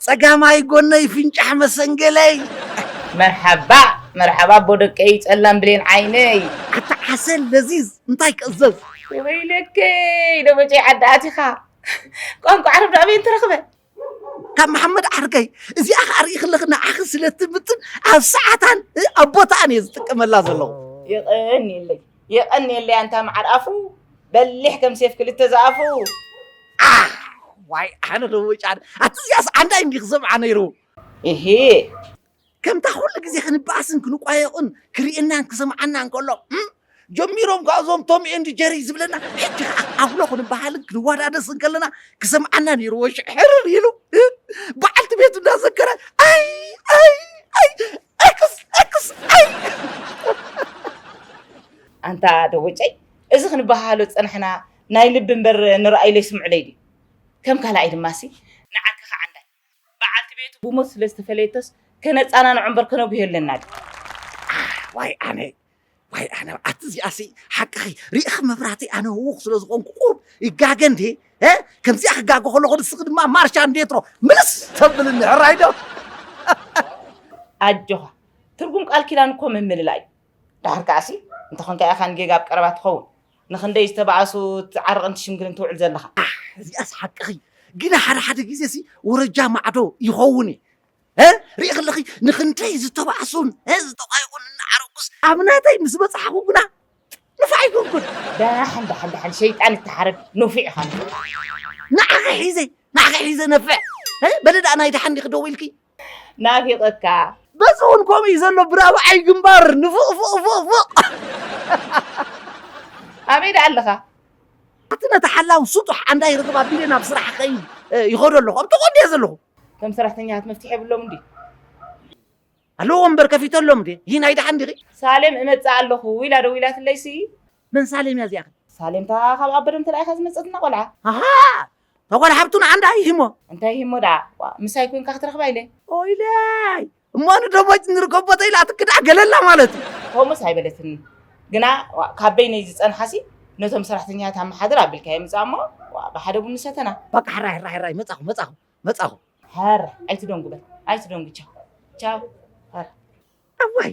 ጸጋማይ ጎነይ ፍንጫሕ መሰንገለይ። መርሓባ መርሓባ ኣቦ ደቀይ ጸላም ብሌን ዓይነይ። ኣታ ዓሰል ለዚዝ እንታይ ክእዘዝ። ወይለከይ ደበጨይ ዓዲ ኣቲኻ ቋንቋ ዓረብ ዶ ኣበይ ተረኽበ። ካብ መሓመድ ዓርከይ እዚኣ ከኣ ርኢ ከለኺ ንዓኺ ስለ እትምጥን ኣብ ሰዓታን ኣብ ቦታኣን እየ ዝጥቀመላ ዘለኹ። የቐንየለይ የቐንየለይ ኣንታ መዓር ኣፉ በሊሕ ከም ሴፍ ክልተ ዝኣፉ። ዓሕ ዋይ ኣነ ለወጫን ኣቲ እዚኣስ ዓንዳይ እንዲ ክሰምዓ ነይሩ። እሂ። ከምታ ኩሉ ግዜ ክንበኣስን ክንቋየቑን ክርእየናን ክሰምዓናን ከሎ እም ጀሚሮም ከኣ እዞም ቶም ኤንድ ጀሪ ዝብለና ሕጂ ከኣ ኣፍሎ ክንበሃልን ክንወዳደስን ከለና ክሰምዓና ነይርዎ ሽሕ ሕርር ኢሉ በዓልቲ ቤቱ እንዳዘከረ ኣይ ኣይ ኣይ ኤክስ ኤክስ ኣንታ ደወጨይ እዚ ክንበሃሃሎ ዝጸናሕና ናይ ልቢ እምበር ንረኣይለይ ስምዑለይ ድዩ ከም ካልኣይ ድማሲ ንዓኪ ከዓ እንዳይ በዓልቲ ቤቱ ብሞት ስለ ዝተፈለየቶስ ከነጻናንዖ እምበር ከነጉህዮ ኣለና ድዩ ኣሕ ዋይ ኣነ ዋይ ኣነ ኣቲ እዚኣሲ ሓቅኺ ርኢኺ መብራህተይ ኣነ ህውኽ ስለ ዝኾንኩ ቁሩብ ይጋገ እንዴ እ ከምዚኣ ክጋገ ከለኹ ንስኺ ድማ ማርሻ እንዴትሮ ምልስ ተብልኒ ሕራይ ዶ ኣጆኻ ትርጉም ቃል ኪዳን እኮ ምምልላይ እዩ ድሓር ከዓሲ እንተኾንካ ኢኻ ንጌጋ ኣብ ቀረባ ትኸውን ንክንደይ ዝተባኣሱ ትዓርቕን ትሽምግልን ትውዕል ዘለኻ እዚኣስ ሓቅኺ ግና ሓደ ሓደ ግዜሲ ወረጃ ማዕዶ ይኸውን እዩ ርኢ ክለኺ ንክንደይ ዝተባዕሱን ዝተቋይቑን እናዓረቁስ ኣብ ናተይ ምስ በፅሓኹ ግና ንፋዕ ይኮንኩን ዳሕን ዳሕን ዳሕን ሸይጣን እትሓርድ ኑፊዕ ኢኻ ንዓኺ ሒዘ ንዓኺ ሒዘ ነፍዕ በለ ደኣ ናይ ደሓን ዲኺ ደው ኢልኪ ናፊቐካ በዚ እውን ከምኡ እዩ ዘሎ ብራብዓይ ግንባር ንፉቕፉቕፉቕፉቕ ኣበይ ደኣ ኣለኻ እቲ ነቲ ሓላው ስጡሕ ኣንዳ ይርኽብ ኣቢለ ናብ ስራሕ ኸይድ ይኸዶ ኣለኹ ኣብ ተቖንደ እየ ዘለኹ እቶም ሰራሕተኛታት መፍትሒ የብሎምን ድዩ? ኣለዎ እምበር ከፊተሎም ድየ ይህ ናይ ደሓን ዲኺ? ሳሌም እመጽእ ኣለኹ ኢላ ደዊላትለይሲ። መን ሳሌም እያ እዚኣ? ሳሌም እታ ካብ ኣበደም ተላኢኻ ዝመጸትና ቆልዓ። ኣሃ እታ ጓል ሓብቱ ንዓንዳ ሂሞ። እንታይ ሂሞ ደኣ? ዋእ ምሳይ ኮይንካ ክትረኽባ ኢለ። ኦይለይ እሞ ንደሞጭ ንርከብ ቦታ ኢላ ትክዳዕ ገለላ ማለት እዩ። ከምኡስ ኣይበለትንን ግና ዋእ ካብ በይነይ ዝጸንሓሲ ነቶም ሰራሕተኛታት ኣመሓድር ኣቢልካዮ ምጻእ እሞ ዋእ ብሓደ ቡን ንሰተና። በቃ ሕራይ ሕራይ ሕራይ መጻኹ መጻኹ መጻኹ። ሕራይ ኣይትደንጉ በል ኣይትደንጉ ቻው ቻው ሕራይ። እዋይ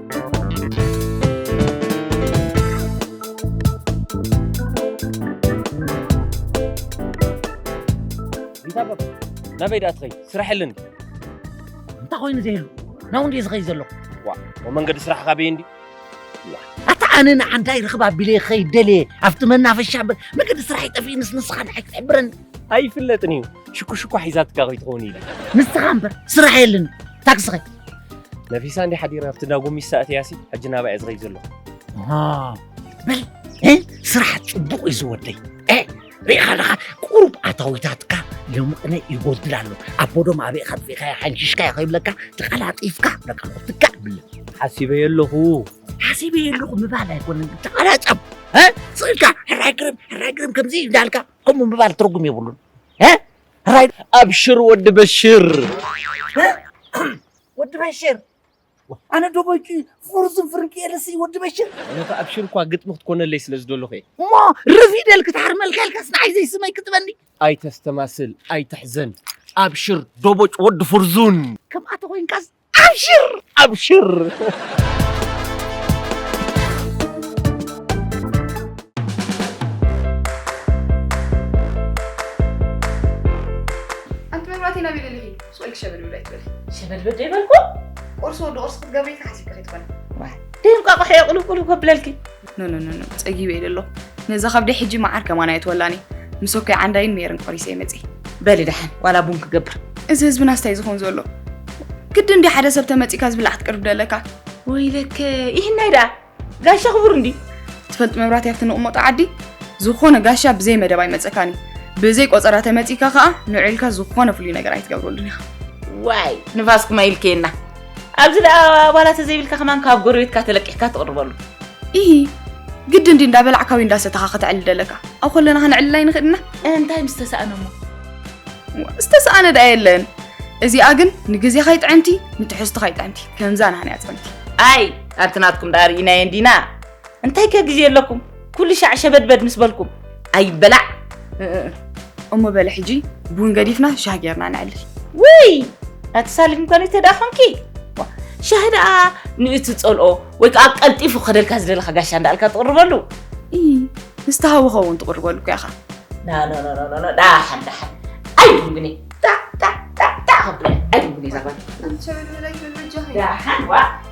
ናበይ ደኣ ትኸይድ ስራሕ ኣለኒ እንታይ ኮይኑ ዘይህሉ ናብኡ እንድየ ዝኸይድ ዘለኹ ዋ መንገዲ ስራሕኻ በየ እንዲ ኣታ ኣነ ንዓንታይ ርኽብ ኣቢለ ክኸይድ ደልየ ኣብቲ መናፈሻ እምበር መገዲ ስራሕ ይጠፍእ ንስንስኻ ንዓይ ክትሕብረኒ ኣይፍለጥን እዩ ሽኩሽኳ ሒዛትካ ከይትኸውን ኢለ ንስኻ እምበር ስራሕ የለን ታክስኺ ነፊሳ እንዲ ሓዲራ ኣብቲ እንዳ ጎሚስታ እትያሲ ሕጂ ናባይ እየ ዝኸይድ ዘለኹ በል እ፣ ስራሕ ፅቡቕ እዩ ዝወደይ እ፣ ሪኢኻ ኣለኻ ቁሩብ ኣታዊታትካ የሙቕነ ይጎድል ኣሎ ኣቦ ዶም ኣበይካ ጥፊእካዮ ሓንሺሽካዮ ከይብለካ ተቐላጢፍካ በቃ ክትካእ ብለ ሓሲበየ ኣለኹ ሓሲበ የለኹ ምባል ኣይኮነን ተቐላጠም ስእልካ ሕራይ ግርም ሕራይ ግርም ከምዚ እንዳልካ ከምኡ ምባል ትርጉም የብሉን ራይድ ኣብሽር ወዲ በሽር ወዲ በሽር ኣነ ዶበይቂ ፍርዝን ፍርቂ የለሲ ወዲ በሽር ነቲ ኣብሽር እኳ ግጥሚ ክትኮነለይ ስለ ዝደለኹ እየ እሞ ርፊደል ክትሓርመልካ ኢልካስ ንዓይ ዘይስመይ ክትበኒ ኣይተስተማስል ኣይትሕዘን ኣብሽር ዶቦጭ ወዲ ፍርዙን ከምኣ ተኮይንካስ ኣብሽር ኣብሽር ሸበድበድ ዘይበልኩ ቁርሲ ወዲ ቁርሲ ክትገብሪ ተሓሲብኪ ክትኮኒ ደይ እንቋቑሖ የቑልቁሉ ከብለልኪ ኖኖኖኖ ፀጊበ ኢለ ኣለኹ ነዛ ከብደይ ሕጂ መዓር ከማን ኣየትወላን እዩ ምስ ወከይ ዓንዳይን ሜርን ቆሪሰ ይመፅእ በሊ ደሓን ዋላ ቡን ክገብር እዚ ህዝብና ስታይ ዝኾን ዘሎ ግዲ እንዲ ሓደ ሰብ ተመፂእካ ዝብላዕ ክትቅርብ ደለካ ወይለከ ይህናይ ደኣ ጋሻ ክቡር እንዲ ትፈልጥ መብራት ያብቲ ንቕመጦ ዓዲ ዝኾነ ጋሻ ብዘይ መደብ ኣይመፀካን እዩ ብዘይ ቆፀራ ተመፂእካ ከዓ ንዑ ኢልካ ዝኾነ ፍሉይ ነገር ኣይትገብረሉን ኢኻ ዋይ ንፋስኩም ኣይልከየና ኣብዚ ደኣ ኣባላተ ዘይብልካ ከማን ካብ ጎረቤትካ ተለቂሕካ ትቕርበሉ ኢሂ ግድን ድዩ እንዳበላዕካ ወይ እንዳሰተኻ ከተዕሊ ደለካ ኣብ ኮለና ከነዕልል ኣይንኽእል ኢና እንታይ ምስ ተሳእነ እሞ ዝተሰኣነ ደኣ የለን እዚኣ ግን ንግዜኻ ይጥዕምቲ ንትሕዝትኻ ይጥዕምቲ ከምዛ ናህንያ ፅምቲ ኣይ ኣንቲ ናትኩም ደኣ ርኢናየን ዲና እንታይ ከ ግዜ ኣለኩም ኩሉ ሻዕ ሸበድበድ ምስ በልኩም ኣይበላዕ እሞ በለ ሕጂ ቡን ገዲፍና ሻህ ጌርና ንዕልል ውይ ኣተሳሊፍ እንኳን ተደኣ ኮንኪ ሻህ ደኣ ንእቲ ፀልኦ ወይ ከዓ ቀልጢፉ ከደልካ ዝደለካ ጋሻ እንዳኣልካ ትቕርበሉ ንስተሃዊ ኸውን ትቕርበሉ እኮ ኢኻ ዳሓን ዳሓን ኣይድንግኒ ዳዳዳዳ ከብለ ኣይድንግኒ ዛባት ዳሓን ዋ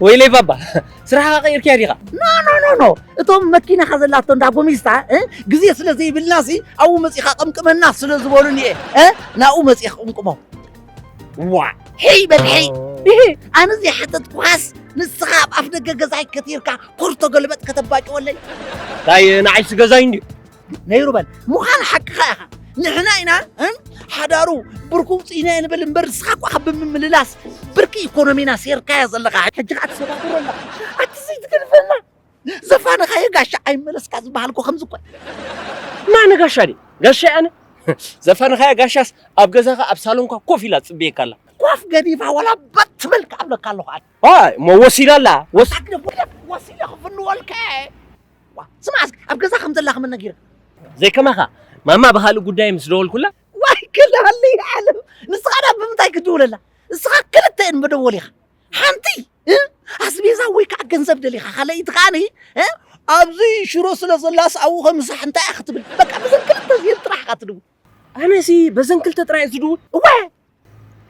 ወይለይ ባባ ስራሕኻ ቀይርክያ ዲኻ ኖ ኖ ኖ ኖ እቶም መኪናኻ ዘላቶ እንዳ ጎሚስታ እ፣ ግዜ ስለ ዘይብልና ሲ ኣብኡ መፂኻ ቅምቅመና ስለ ዝበሉኒ እየ እ፣ ናብኡ መፂእ ክቕምቅሞ ዋ ሕይ በል ሕይ ይሄ ኣነ ዘይሓተትኩኻስ ንስኻ ኣብ ኣፍ ደገ ገዛይ ከቲርካ ኮርቶ ገልበጥ ከተባጭወለይ ታይ ንዓይሲ ገዛይ እንድዩ ነይሩ በል ምዃን ሓቅኻ ኢኻ ንሕና ኢና ሓዳሩ ብርኩ ውፅኢና ንብል እምበር ንስኻ እኳ ካብ ብምምልላስ ብርኪ ኢኮኖሚና ሴርካያ ዘለኻ ሕጂ ከዓ ትሰባብሮ ኣለኻ ኣቲ ዘይትገድፈና ዘፋንኻዮ ጋሻ ኣይመለስካ ዝበሃል እኮ ከምዚ እኮ ማነ ጋሻ ድዩ ጋሻ ኣነ ዘፋንኻያ ጋሻስ ኣብ ገዛኻ ኣብ ሳሎንካ ኮፍ ኢላ ትፅበየካ ኣላ ኳፍ ገዲፋ ዋላ በት ትብል ክኣብለካ ኣለኹ ኣነ እሞ ወሲዳ ኣላ ወስ ወሲዳ ክፍንወልካ እየ ዋ ስማዕ እስኪ ኣብ ገዛ ከም ዘላ ከመን ነጊራ ዘይከማኻ ማማ ብካልእ ጉዳይ ምስ ደወልኩላ ዋይ ክላሊ ዓለም ንስኻ ዳ ብምንታይ ክትድውለላ ንስኻ ክልተ እን መደወሊኻ ሓንቲ ኣስቤዛ ወይ ከዓ ገንዘብ ደሊኻ ካልኣይቲ ከዓ ን ኣብዚ ሽሮ ስለ ዘላስ ኣብኡ ከምሳሕ እንታይ እያ ክትብል በቃ ብዘን ክልተ እዚኤን ጥራሕ ኢኻ ትድውል ኣነሲ በዘን ክልተ ጥራይ ዝድውል እወ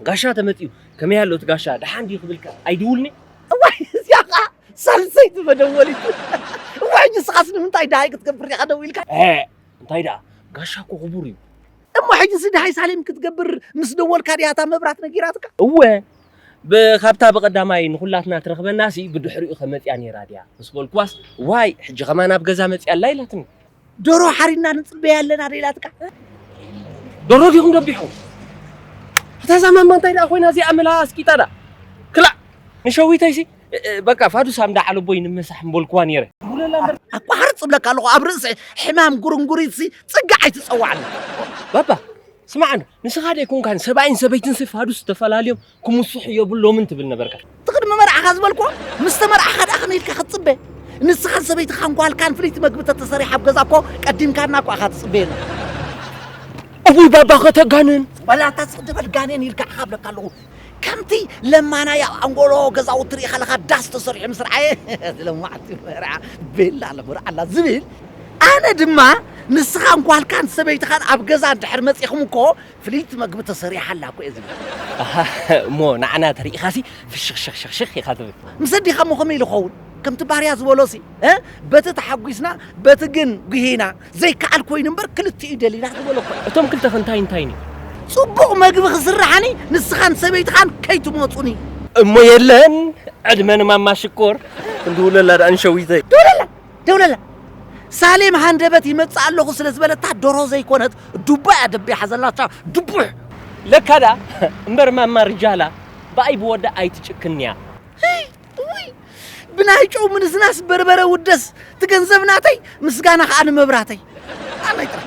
ጋሻ ተመጺኡ ከመይ ኣሎ እቲ ጋሻ ደሓን ድዩ ክብልካ ኣይድውልኒ እዋይ እዚኣ ከዓ ሳልሰይቲ መደወሊት እዋይ ሕጂ ስኻስ ንምንታይ ደሃይ ክትገብር ኢኻ ደዊልካ እንታይ ደኣ ጋሻ እኮ ክቡር እዩ እሞ ሕጂሲ ደሃይ ሳሌም ክትገብር ምስ ደወልካ ድያ እታ መብራት ነጊራትካ እወ ካብታ ብቐዳማይ ንኹላትና ትረኽበናሲ ብድሕሪኡ ከመፅያ ነይራ ድያ ምስ በልኩዋስ ዋይ ሕጂ ከማን ኣብ ገዛ መፅያ ኣላ ኢላትኒ ዶሮ ሓሪና ንፅበያ ኣለና ዶ ኢላትካ ዶሮ ዲኹም ደቢሕኹም እታ ዛማማ እንታይ ደኣ ኮይና እዚኣ ምላ ኣስቂጣ ደኣ ክላእ ንሸዊተይሲ በቃ ፋዱስ ኣምዳ ዓለቦይ ንመሳሕ ምበልኩዋ ነይረ ኣቋርፅ እብለካ ኣለኹ ኣብ ርእሲ ሕማም ጉርንጉሪትሲ ፅጋዕ ኣይትፀዋዕና ባባ ስማዕ ንስኻ ደይኮንካን ሰብኣይን ሰበይትንሲ ፋዱስ ተፈላልዮም ክምስሑ የብሎምን ትብል ነበርካ። እቲ ቅድሚ መርዓኻ ዝበልክዎ ምስ ተመርዓኻ ደኣ ከመይ ኢልካ ክትጽበ? ንስኻን ሰበይትኻን ጓልካን ፍልይቲ መግቢ ተተሰሪሓ ኣብ ገዛ እኮ ቀዲምካና እኮ ኢኻ ትጽበየና። እውይ ባባ ከተጋንን በላ እታ ዝቕደመት ጋኔን ኢልካ ኢኻ እብለካ ኣለኹ። ከምቲ ለማናይ ኣብ ኣንጎሎ ገዛውቲ ርኢኻ ኣለኻ ዳስ ተሰሪሑ ምስ ረኣየ ለማዕቲ መርዓ ቤላ ለምርዓላ ዝብል ኣነ ድማ ንስኻን ጓልካን ሰበይትኻን ኣብ ገዛ እንድሕር መጺኹም እኮ ፍልይቲ መግቢ ተሰሪሓ ኣላ እኮ እየ ዝብል። ኣሃ እሞ ንዓና ተሪኢኻሲ ፍሽኽሽኽሽኽሽኽ ኢኻ ትብል። ምስ ኣዴኻ እሞ ከመይ ኢሉ ክኸውን? ከምቲ ባህርያ ዝበሎሲ እ በቲ ተሓጒስና በቲ ግን ጒሂና፣ ዘይከኣል ኮይኑ እምበር ክልቲኡ ደሊና ዝበሎ እኮ እዩ። እቶም ክልተኸ እንታይ እንታይን እዩ? ጽቡቕ መግቢ ክስርሓኒ ንስኻን ሰበይትኻን ከይትመጹኒ። እሞ የለን ዕድመ ንማማ ሽኮር። እንድውለላ ደኣኒ ሸዊተይ። ደውለላ! ደውለላ ሳሌም ሃንደበት ይመጽእ ኣለኹ ስለ ዝበለታ ደርሆ ዘይኮነት ዱባ እያ ደቢሓ ዘላቻ ድቡሕ። ለካ ደኣ እምበር ማማ ርጃላ ብኣይ ብወዳ ኣይትጭክንን'ያ። እውይ ብናይ ጨው ምንዝናስ በርበረ ውደስ ትገንዘብ ናተይ ምስጋና ከዓ ንመብራተይ ኣላይ ጥራሕ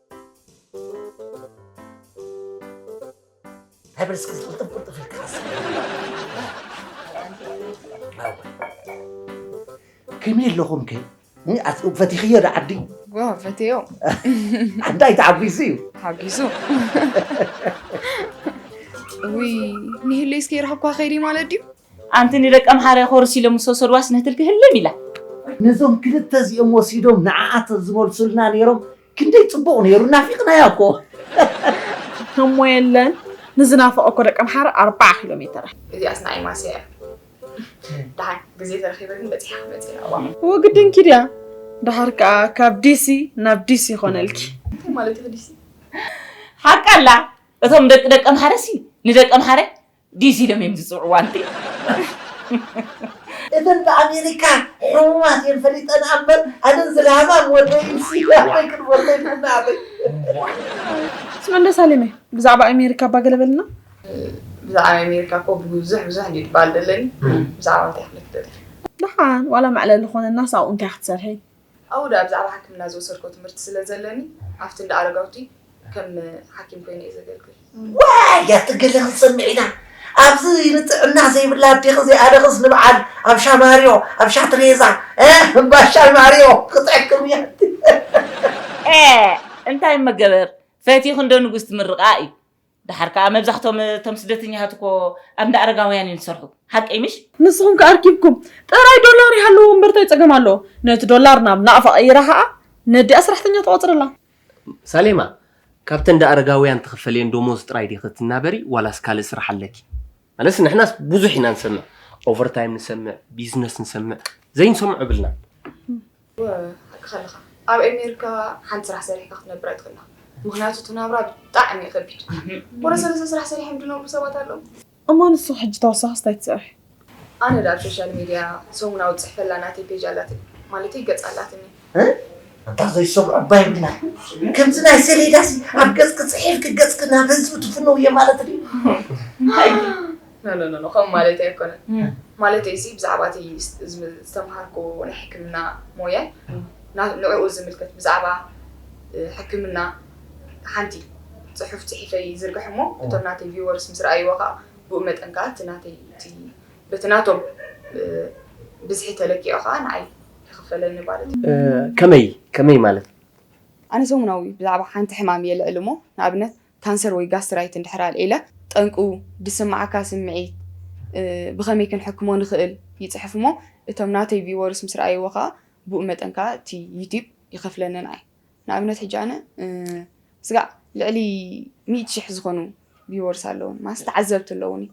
እንታይ በል እስኪ ዝቕልጥፍ ቅልጥፍ ኢልካ ሓስብ። እወ። ከመይ ኣለኹም ከ እ፣ ኣት- ፈቲኽዮ ዶ ዓዲ ጓ ፈትዮ ዓዳይ ተዓጒሱ እዩ ሓጊዙ ውይ ንህለይ እስከ ይረኸብኳ ከይዲ ማለት ድዩ ኣንቲ ንደቂ ኣምሓራ ኮርስ ኢሎም ምስ ወሰድዋስ ንህትልኪ ህልም ኢላ ነዞም ክልተ እዚኦም ወሲዶም ንዓኣ ተዝመልሱልና ነይሮም ክንደይ ጽቡቕ ነይሩ ናፊቕናያ እኮ። እሞ የለን ንዝናፈቐ እኮ ደቂ ኣምሓረ ኣርባዓ ኪሎ ሜተረ። እዚኣስ ንኣይ ማስያ እያ ደሓን ግዜ ተረኺበ ግን በጺሓ ክመጽእ እየ ናብኣ። እወ ግድንኪ ድያ ደሓር ከኣ ካብ ዲሲ ናብ ዲሲ ይኾነልኪ። እንታይ ማለት ኢኺ ዲሲ? ሓቃ ኣላ እቶም ደቂ ደቂ ኣምሓረሲ ንደቂ ኣምሓረ ዲስ ኢሎም እዮም ዝጽውዕዋ እንድዒ። እተን ብኣሜሪካ ሕሙማት እየን ፈሊጠን ኣምበር ኣነን ዝላህማም ወደይ ሲ ኣበይ ክንወልደ ኢና ናተይ። ምስ መለስ ኣሌመ ብዛዕባ ኣሜሪካ እባ ገለ በለና። ብዛዕባ ኣሜሪካ እኮ ብዙሕ ብዙሕ እንድዩ ትበሃል ዘለኒ ብዛዕባ እንታይ ክብለኪ ደሊኪ። ደሓን ዋላ መዕለሊ ኾነናስ ኣብኡ እንታይ ክትሰርሒ። ኣብኡ ድኣ ብዛዕባ ሓክምና ዝወሰድክዎ ትምህርቲ ስለ ዘለኒ ኣብቲ እንዳ ኣረጋውቲ ከም ሓኪም ኮይነ እየ ዘገልግል። ዋይ ኣቲ ገለ ክትሰምዒ ኢላ ኣብዚ ንጥዕና ዘይብላ ኣዴኺ እዚኣ ደኽስ ንበዓል ኣብ ሻማርዮ ኣብ ሻትሬዛ እባ ሻማርዮ ክትሕክም እያ ኣቲ። ኤእ እንታይ እመገበር ፈቲኹ እንዶ ንጉስ ትምርቓ እዩ ደሓር ከኣ መብዛሕቶም እቶም ስደተኛታት እኮ ኣብ እንዳ ኣረጋውያን እዮም ዝሰርሑ ሓቀይ ምሽ? ንስኹም ከኣ ኣርኪብኩም ጥራይ ዶላር ይሃልዎ እምበር ታይ ጸገም ኣለዎ ነቲ ዶላር ናብ ናቕፋ ቀይራ ከኣ ነዲኣ ስራሕተኛ ተቖጽረላ። ሳሌማ ካብተን እንዳ ኣረጋውያን ትኽፈልየን ዶሞዝ ጥራይ ዲኺ ትናበሪ ዋላስ ካልእ ስራሕ ኣለኪ? መለስ ንሕናስ ብዙሕ ኢና ንሰምዕ ኦቨርታይም ንሰምዕ ቢዝነስ ንሰምዕ ዘይንሰምዖ የብልናን። ሓቅካ ኣለካ ኣብ ኤሜርካ ሓንቲ ስራሕ ሰሪሕካ ክትነብር ኣይትክእላ ምክንያቱ እቲ ናብራ ብጣዕሚ እዩ ከቢድ ወረ ሰለስተ ስራሕ ሰሪሖም ድነብሩ ሰባት ኣለዉ። እሞ ንስኪ ሕጂ ተወሳኪስ ታይ ትሰርሒ? ኣነ ድኣ ኣብ ሾሻል ሚድያ ሰሙናዊ ትጽሕፈላ ናተይ ፔጅ ኣላትኒ ማለተይ ገጽ ኣላትኒ። ኣታ ዘይሰብ ዕባይ ምናይ ከምዚ ናይ ሰሌዳሲ ኣብ ገጽኪ ጽሒፍኪ ገጽኪ ናብ ህዝቢ ትፍንውዮ ማለት ድዩ። ኖኖኖ ከምኡ ማለተይ ኣይኮነን ማለተይ ሲ ብዛዕባ እቲ ዝተምሃርኩ ናይ ሕክምና ሞያ ንዕኡ ዝምልከት ብዛዕባ ሕክምና ሓንቲ ጽሑፍ ጽሒፈ ይዝርግሕ እሞ እቶም ናተይ ቪወርስ ምስ ረኣይዎ ከኣ ብኡ መጠን ከኣ እቲ ናተይ እቲ በቲ ናቶም ብዝሒ ተለኪዑ ከኣ ንዓይ ይኽፈለኒ ማለት እዩ። ከመይ ከመይ ማለት? ኣነ ሰሙናዊ ብዛዕባ ሓንቲ ሕማም የልዕል እሞ ንኣብነት ካንሰር ወይ ጋስትራይት እንድሕር ኣልዒለ ጠንቁ ድስምዓካ ስምዒት ብኸመይ ክንሕክሞ ንኽእል ይጽሕፍ እሞ እቶም ናተይ ቪወርስ ምስ ረኣይዎ ከኣ ብኡ መጠን ከኣ እቲ ዩቲብ ይኸፍለንን ኣይ ንኣብነት ሕጂ ኣነ ስጋዕ ልዕሊ ሚእቲ ሽሕ ዝኾኑ ቪወርስ ኣለዉን ማስ ተዓዘብቲ ኣለዉኒ።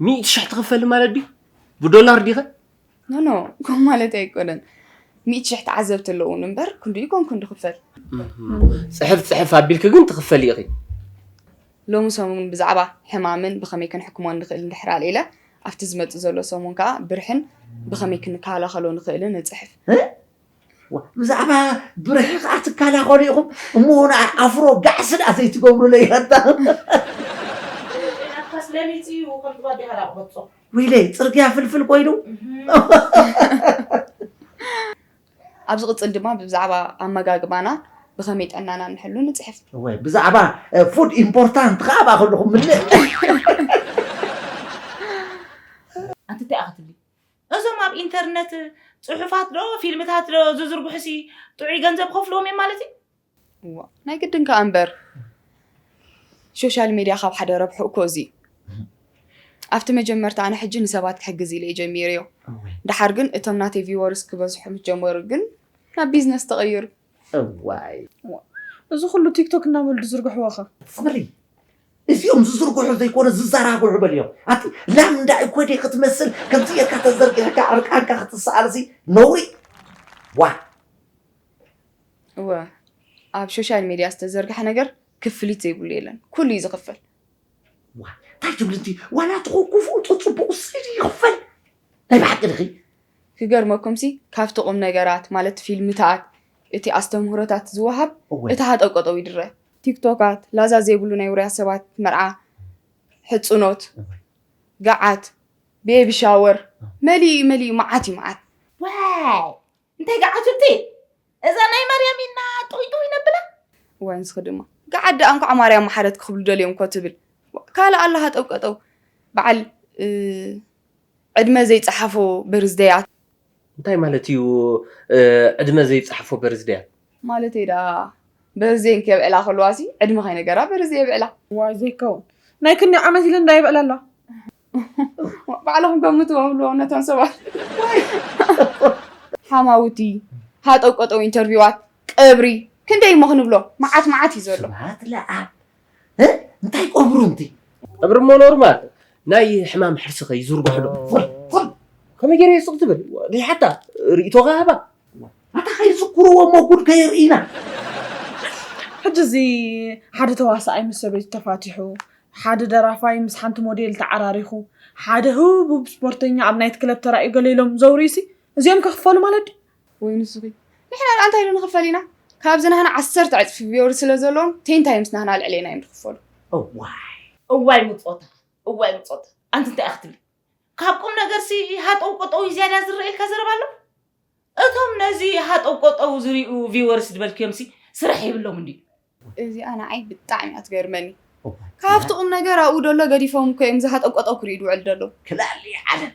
ሚእቲ ሽሕ ትኽፈሊ ማለት ድዩ ብዶላር ዲኸ? ኖኖ ኮም ማለት ኣይኮነን ሚእቲ ሽሕ ተዓዘብቲ ኣለውን እምበር ክንድኡ ኮን ክንዲ ክፈል ፅሕፍ ፅሕፍ ኣቢልኪ ግን ትኽፈል ኢኺ ሎሚ ሰሙን ብዛዕባ ሕማምን ብኸመይ ክንሕክሞ ንኽእል እንድሕር ኣልዒለ ኣብቲ ዝመፅእ ዘሎ ሰሙን ከዓ ብርሕን ብኸመይ ክንከላኸሎ ንኽእልን ንፅሕፍ ብዛዕባ ብርሒ ከዓ ትከላኸሉ ኢኹም እሞ ንኣ ኣፍሮ ጋዕሲ ድኣ ዘይትገብሩለይ ኣታ ዊለይ ፅርግያ ፍልፍል ኮይኑ ኣብ ዝቕፅል ድማ ብዛዕባ ኣመጋግባና ብኸመይ ጠናና ንሕሉ ንፅሕፍ ወይ ብዛዕባ ፉድ ኢምፖርታንት ከዓ ኣብኣ ከለኹም ምልእ ኣንተ እንታይ ክትብል እዞም ኣብ ኢንተርነት ጽሑፋት ዶ ፊልምታት ዶ ዝዝርግሑሲ ጥዑይ ገንዘብ ክኸፍልዎም እዮም ማለት እዩ? እዋእ ናይ ግድን ከኣ እምበር ሾሻል ሜድያ ካብ ሓደ ረብሕኡ እኮ እዚ እዩ። ኣብቲ መጀመርታ ኣነ ሕጂ ንሰባት ክሕግዝ ኢለ እየ ጀሚረዮ። ደሓር ግን እቶም ናተይ ቪወርስ ክበዝሑ ምስ ጀመሩ ግን ናብ ቢዝነስ ተቐይሩ። እዋይ እዚ ኩሉ ቲክቶክ እናበሉ ዝዝርግሕዎ ከ ኣስመረይ እዚኦም ዝዝርግሑ ዘይኮነ ዝዘራግሑ በልዮም ኣቲ ላም እንዳይ ኮዴ ክትመስል ከምዚ ጌርካ ተዘርጊሕካ ዕርቃንካ ክትሰኣል ሲ ነውሪ ዋ እወ ኣብ ሶሻል ሚድያ ዝተዘርግሐ ነገር ክፍሊት ዘይብሉ የለን ኩሉ እዩ ዝኽፈል ዋ እንታይ ትብልቲ ዋላ ትኹ ክፉእ ፅቡቅ ስኢድ ይኽፈል ናይ ብሓቂ ድኺ ክገርመኩምሲ ካብቲ ቁምነገራት ማለት ፊልምታት እቲ ኣስተምህሮታት ዝወሃብ እቲ ሃጠውቀጠው ይድረ። ቲክቶካት ላዛ ዘይብሉ ናይ ውሩያት ሰባት መርዓ ሕጽኖት ገዓት ቤቢ ሻወር መሊኡ መሊኡ መዓት እዩ መዓት። ዋይ እንታይ ገዓት እብቲ እዛ ናይ ማርያም ኢልና ጥውይ ጥውይ ነብላ። እዋይ ንስኺ ድማ ገዓት ደኣ እንኳዕ ማርያም መሓረት ክብሉ ደልዮም እኮ ትብል ካልእ ኣሎ ሃጠው ቀጠው በዓል ዕድመ ዘይፀሓፎ በርዝደያት እንታይ ማለት እዩ ዕድመ ዘይፃሕፎ በርዝደያት? ማለተይ ደኣ በርዝደየን ከየብዕላ ከለዋ ሲ ዕድመ ከይነገራ በርዝደይ የብዕላ። ዋይ ዘይከውን ናይ ክንደይ ዓመት ኢለን ዶ የብዕላ ኣለዋ። ባዕልኹም ገምትዎ ብልዎም ነቶም ሰባት ሓማውቲ ሃጠውቀጠው ኢንተርቪዋት ቀብሪ ክንደይ እሞ ክንብሎ መዓት መዓት እዩ ዘሎ ስብሓት ለኣብ እንታይ ቆብሩ እንቲ ቀብሪ እሞ ኖርማል ናይ ሕማም ሕርሲ ከይዝርግሕሎ ከመይ ገይረ እየ ሱቕ ትብል ሓታ ርእይቶኻ ሃባ ኣታ ከይዝክርዎ እሞ ጉድ ከየርእይና። ሕጂ እዚ ሓደ ተዋሳኣይ ምስ ሰበይቱ ተፋቲሑ፣ ሓደ ደራፋይ ምስ ሓንቲ ሞዴል ተዓራሪኹ፣ ሓደ ህቡብ ስፖርተኛ ኣብ ናይት ክለብ ተራእዩ ገለ ኢሎም ዘውርዩሲ እዚኦም ከ ክፈሉ ማለት ድዩ? ወይ ንስኺ ንሕና ድኣ እንታይ ኢሉ ንኽፈል ኢና ካብዚ ናህና ዓሰርተ ዕጽፊ ቪወርስ ስለ ዘለዎም ቴንታይ ምስ ናህና ኣልዕሌና ኢዮም ድኽፈሉ። እዋይ እዋይ ምጾታ እዋይ ምጾታ ኣንቲ እንታይ ኢያ ክትብሊ ካብ ቁም ነገርሲ ሃጠው ቆጠው እዩ ዝያዳ ዝረኤልካ ዘረባ ኣሎ እቶም ነዚ ሃጠው ቆጠው ዝሪኡ ቪወርስ ዝበልክዮምሲ ስራሕ የብሎምን ድዩ እዚኣ ንዓይ ብጣዕሚ እያ ትገርመኒ ካብቲ ቁም ነገር ኣብኡ ደሎ ገዲፎም እኮ እዮም ዝሃጠው ቆጠው ክሪኡ ድውዕል ደሎ ክላሊ ዓለም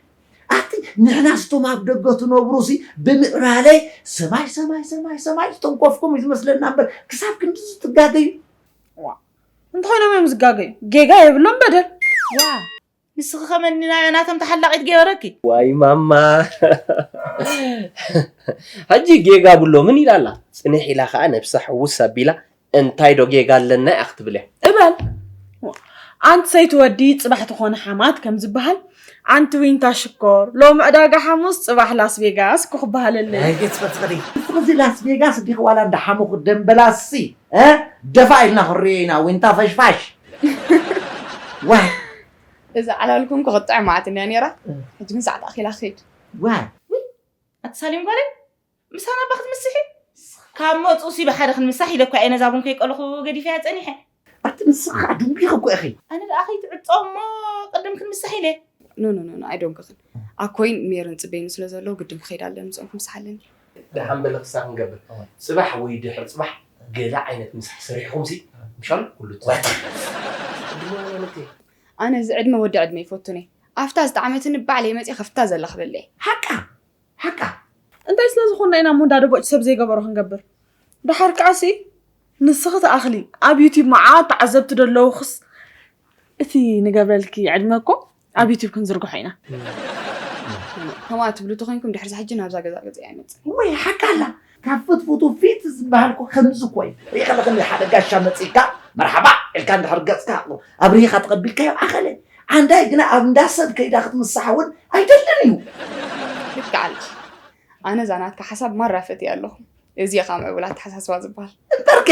ኣቲ ንሕና ስቶም ኣብ ደገ ትነብሩ ሲ ብምዕባለይ ሰማይ ሰማይ ሰማይ ሰማይ ዝተንኮፍኩም እዩ ዝመስለና እምበር ክሳብ ክንዲ ዝትጋገዩ እንተኾይኖም እዮም ዝጋገዩ ጌጋ የብሎም በደል ዋ ንስኺ ከመኒናዮ ናቶም ተሓላቂት ገበረኪ። ዋይ ማማ ሕጂ ጌጋ ብሎምን ኢላ ኣላ ጽንሕ ኢላ ከኣ ነብሳ ሕውስ ኣቢላ እንታይ ዶ ጌጋ ኣለና እያ ክትብል እያ እባል ኣንቲ ሰይቲ ወዲ ጽባሕ ትኾነ ሓማት ከም ዝበሃል ኣንቲ ዊንታ ሽኮር ሎሚ ዕዳጋ ሓሙስ ጽባሕ ላስቬጋስ እኮ ክበሃለለይ ናይ ገጽ ፈጽሪ ንስኺ እዚ ላስቬጋስ ዲኺ ዋላ እንዳ ሓሙኽ ደምበላሲ እ ደፋእ ኢልና ክንሪኦ ኢና ዊንታ ፈሽፋሽ ዋይ እዛ ዓላል ኩንኩ ክትጥዕም መዓትን እያ ነይራ ሕጂ ግን ሰዓት ኣኺላ ክኸይድ ዋይ ኣቲ ሳሌም ጓለይ ምሳና እባ ክትምስሒ ካብ መፁ ሲ ብሓደ ክንምሳሕ ኢለ እኳ እየ ነዛ ቡን ከይቀለኹ ገዲፈያ ፀኒሐ ኣቲ ንስኺ ከዓ ድንጒኺ እኮ ኢኺ ኣነ ደኣ ከይትዕፆ እሞ ቅድም ክንምሳሕ ኢለ ኖ ኖ ኖ ኣይደንጉኽን ኣኮይን ሜርን ፅበይኒ ስለ ዘለዉ ግድን ክኸይድ ኣለኒ ንፅኦም ክምሳሕ ኣለኒ ደሓን በለ ክሳብ ክንገብር ጽባሕ ወይ ድሕሪ ጽባሕ ገለ ዓይነት ምሳሕ ሰሪሕኹምሲ ምሻሉ ኩሉ ትዛረብ ዕድመ ወለልተይ ኣነ እዚ ዕድመ ወዲ ዕድመ ይፈቱኒ ኣፍታ ዝጠዓመትኒ ባዕለይ መጽየ ከፍታ ዘላ ክበለየ ሓቃ ሓቃ እንታይ ስለ ዝኾንና ኢና እሞ እንዳ ደቦጭ ሰብ ዘይገበሮ ክንገብር ደሓር ከዓሲ ንስኺ ትኣኽሊ ኣብ ዩቲብ መዓት ተዓዘብቲ ደለውክስ እቲ ንገብረልኪ ዕድመ እኮ ኣብ ዩቲብ ክንዝርግሖ ኢና ከምኣ ትብሉ ተኮይንኩም ድሕሪ ሕጂ ናብዛ ገዛ ገዛ ኣይመፅእ ወይ ሓቃላ ካብ ፍትፍቱ ፊት ዝበሃልኩ ከምዚ እኮ እዩ ሪኢኻ ለኸም ሓደ ጋሻ መፅእካ መርሓባ ኢልካ እንድሕር ገፅካ ኣብሪኻ ተቐቢልካዮ ኣኸለ ዓንዳይ ግና ኣብ እንዳ ሰብ ከይዳ ክትምሳሕ እውን ኣይደልን እዩ ልክዕ ኣለኻ ኣነ እዛ ናትካ ሓሳብ ማራ ፈትየ ኣለኹ እዚየ ከዓ ምዕቡል ኣተሓሳስባ ዝበሃል። እምበርከ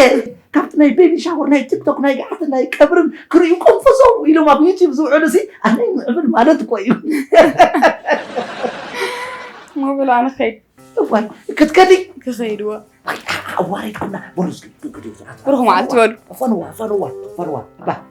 ካብቲ ናይ ቤቢ ሻወር ናይ ቲክቶክ ናይ ገዓትን ናይ ቀብርን ክርእዩ ቆንፈዞም ኢሎም ኣብ ዩቲዩብ ዝውዕሉ ሲ ኣነይ ምዕብል ማለት እኮ እዩ ሞብል ኣነ ከይድ እዋይ ክትከዲ ክኸይድዎ ኣዋሪድኩና በሉ እስኪ ግዱ ብሩኽ መዓልቲ በሉ ፈንዋ ፈንዋ ፈንዋ ባ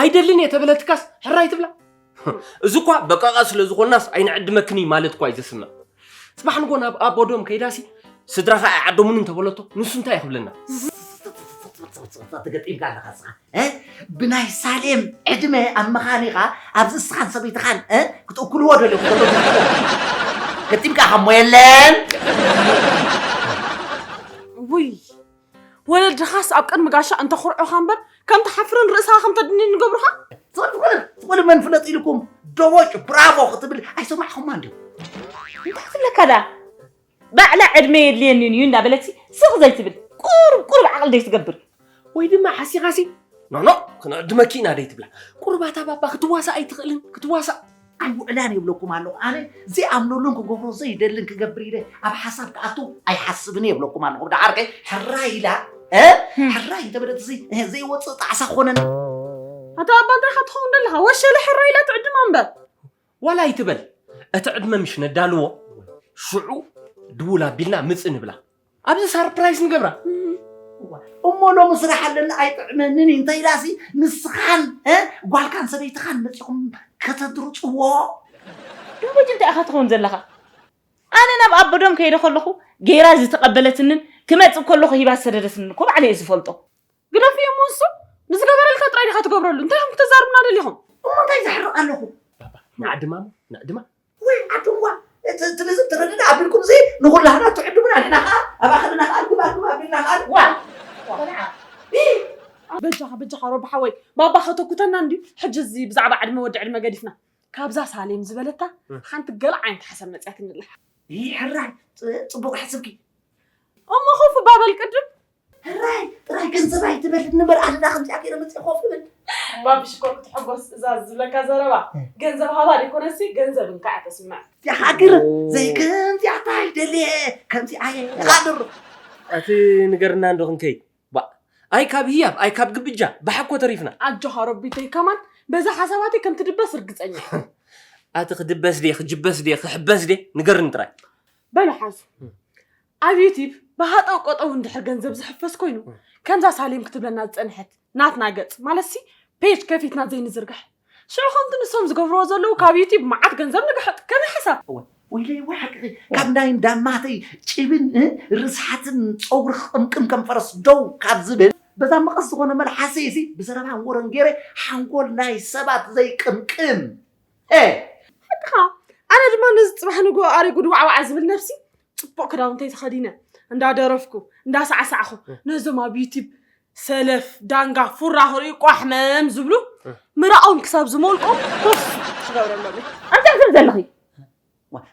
ኣይደልን እየ ተበለትካስ ሕራይ ትብላ እዚ እኳ በቃቃ ስለ ዝኾናስ ኣይንዕድመክን እዩ ማለት እኳ እዩ ዘስምዕ ፅባሕ ንጎ ናብ ኣቦዶም ከይዳሲ ስድራኻ ኣይዓደሙን እንተበለቶ ንሱ እንታይ ክብለና ተገጢምካ ኣለኻ ስኻ ብናይ ሳሌም ዕድመ ኣብ መኻኒኻ ኣብዚ እስኻን ሰበይትኻን ክትእክልዎ ደለኹ ገጢምካ ከሞ የለን ውይ ወለድኻስ ኣብ ቅድሚ ጋሻ እንተኹርዑኻ እምበር ከም ትሓፍርን ርእስኻ ከም ተድንን ይገብሩኻ ዝኾነ መን ፍለጥ ኢልኩም ደቦጭ ብራቮ ክትብል ኣይሰማዕኹማ እንዲዩ እንታይ ክትብለካ ደኣ ባዕላ ዕድመ የድልየኒን እዩ እንዳበለትሲ ስቕ ዘይትብል ቁሩብ ቁሩብ ዓቕሊ ዘይትገብር ወይ ድማ ሓሲኻሲ ኖኖ ክንዕድመኪ ኢና ደይትብላ ቁሩብ ኣታ ባባ ክትዋሳእ ኣይትኽእልን ክትዋሳእ ኣይ ውዕላን የብለኩም ኣለኹ ኣነ ዘይኣምነሉን ክገብሮ ዘይደልን ክገብር ኢለ ኣብ ሓሳብ ክኣቱ ኣይሓስብን የብለኩም ኣለኹ ብደዓርከ ሕራ ኢላ ሕራ እንተበለት እዚ ዘይወፅእ ጣዕሳ ኮነን ኣቶ ኣባ እንታይ ካ ትኸውን ዘለኻ ወሸለ ሕራ ኢላ ትዕድማ እምበር ዋላ ኣይትበል እቲ ዕድመ ምሽ ነዳልዎ ሽዑ ድውል ኣቢልና ምፅ ንብላ ኣብዚ ሳርፕራይዝ ንገብራ እሞ ሎሚ ስራሕ ኣለኒ ኣይጥዕመንን እዩ እንታይ ኢላሲ ንስኻን እ፣ ጓልካን ሰበይትኻን መፂኹም ከተድርፅዎ ደሞጅ እንታይ ኢኻ ትኸውን ዘለኻ ኣነ ናብ ኣቦዶም ከይደ ከለኹ ገይራ ዝተቐበለትንን ክመፅእ ከለኹ ሂባ ዝሰደደትንን እኮ ባዕለይ እየ ዝፈልጦ ግደፍዮ እሞ ንሱ ንዝገበረልካ ጥራይ ዲኻ ትገብረሉ እንታይ ኢኹም ክተዛርቡና ደሊኹም እሞ እንታይ ዘሕርቕ ኣለኹ ንዓድማ እሞ ንዕድማ ወይ ዓድዋ እቲ ትልዝብ ትርድእ ኣቢልኩም ዚ ንኹላህና ትዕድሙና ንሕና ከዓ ኣብ ኣኸልና ከዓ ኣልኩም ኣልኩም ኣቢልና ከዓ ዋ ቆልዓ በጃኻ በጃኻ ሮቢ ሓወይ ባባ ከተኩተና እንድዩ ሕጂ እዚ ብዛዕባ ዕድመ ወዲ ዕድመ ገዲፍና ካብዛ ሳሌም ዝበለታ ሓንቲ ገለ ዓይነት ሓሳብ መፅያትኒ ኣላ ይሕራይ ፅ- ፅቡቕ ሓስብኪ እሞ ኹፍ ባበል ቅድም ሕራይ ጥራይ ገንዘብ ኣይትበል ንበር ኣደዳ ከምዚኣ ገይረ መፅእ ኮፍ ይብል እምባ ብሽኮር ክትሕጎስ እዛ ዝብለካ ዘረባ ገንዘብ ሃባ ዘይኮነሲ ገንዘብ እንካዕ ተስምዕ ይሃግር ዘይከምዚኣ ታይ ደልየ ከምዚኣ እየ ይቃድሩ እቲ ንገርና እንዶ ክንከይ ባ ኣይ ካብ ህያብ ኣይ ካብ ግብጃ ብሓኮ ተሪፍና ኣጆኻ ረቢተይ ከማን በዛ ሓሳባተይ ከም ትድበስ ርግፀኛ ኣቲ ክድበስ ድየ ክጅበስ ድየ ክሕበስ ድየ ንገርኒ ጥራይ በሉ ሓዙ ኣብ ዩቲብ ብሃጠው ቀጠው እንድሕር ገንዘብ ዝሕፈስ ኮይኑ ከምዛ ሳሌም ክትብለና ዝፀንሐት ናትና ገፅ ማለትሲ ፔጅ ከፊትና ዘይንዝርግሕ ሽዑ ከምቲ ንሶም ዝገብርዎ ዘለዉ ካብ ዩቲብ መዓት ገንዘብ ንግሕጥ ከመይ ሓሳብ እወ ወይለይ እወ ሓቅኺ ካብ ናይ እንዳማተይ ጭብን ርስሓትን ፀጉሪ ክቕምቅም ከም ፈረስ ደው ካብ ዝብል በዛ መቐስ ዝኾነ መልሓሰይ እዚ ብዘረባን ወረን ገይረ ሓንጎል ናይ ሰባት ዘይቅምቅም ሄ ሓቅኻ ኣነ ድማ ነዚ ፅባሕ ንግሆ ኣሪጉ ድዋዕዋዕ ዝብል ነብሲ ፅቡቅ ክዳውንተይ ተኸዲነ እንዳደረፍኩ እንዳሳዕሳዕኹ ነዞም ኣብ ዩቲብ ሰለፍ ዳንጋ ፉራ ክርእዩ ቋሕ መም ዝብሉ ምራኦም ክሳብ ዝሞልቆም ኮፍ ዝገብረሎም ኣንታይ ትብል ዘለኺ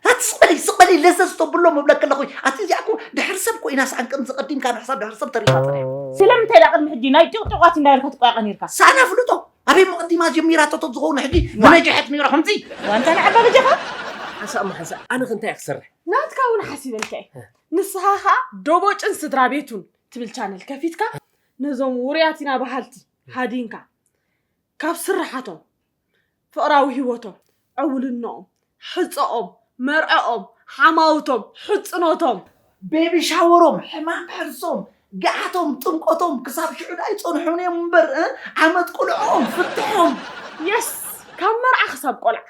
ኣቲ ስቕበለይ ስቕበለይ ለዘዝ ተብሎ ምብለክ ኣለኹ ኣቲ እዚኣ እኮ ድሕሪ ሰብ ኮይና ሰኣን ከምዚ ቀዲምካ ንሕሳብ ድሕሪ ሰብ ተሪፋ ጥራሕ ስለምንታይ ዳ ቅድሚ ሕጂ ናይ ጢቕጢቋት እንዳበልካ ትቋያቐ ነርካ ሰኣን ኣፍልጦ ኣበይ መቕዲማ ጀሚራቶ ተዝኸውን ሕጂ ምነጀሐት ነይራ ከምዚ ዋንታ ንዓባ በጃኻ ሓንሳእ እሞ ሓንሳእ ኣነ ከ እንታይ እየ ክሰርሕ ናትካ እውን ሓሲበልካ እየ ንስኻ ከዓ ዶቦጭን ስድራ ቤቱን ትብል ቻነል ከፊትካ ነዞም ውሩያት ኢና በሃልቲ ሃዲንካ ካብ ስራሓቶም ፍቕራዊ ህይወቶም ዕውልነኦም ሕፀኦም መርዐኦም ሓማውቶም ሕፅኖቶም ቤቢ ሻወሮም ሕማም ሕርሶም ገዓቶም ጥምቆቶም ክሳብ ሽዑ ዳኣ ይፀንሑን እዮም እምበር እ? ዓመት ቁልዕኦም ፍትሖም የስ ካብ መርዓ ክሳብ ቆልዓ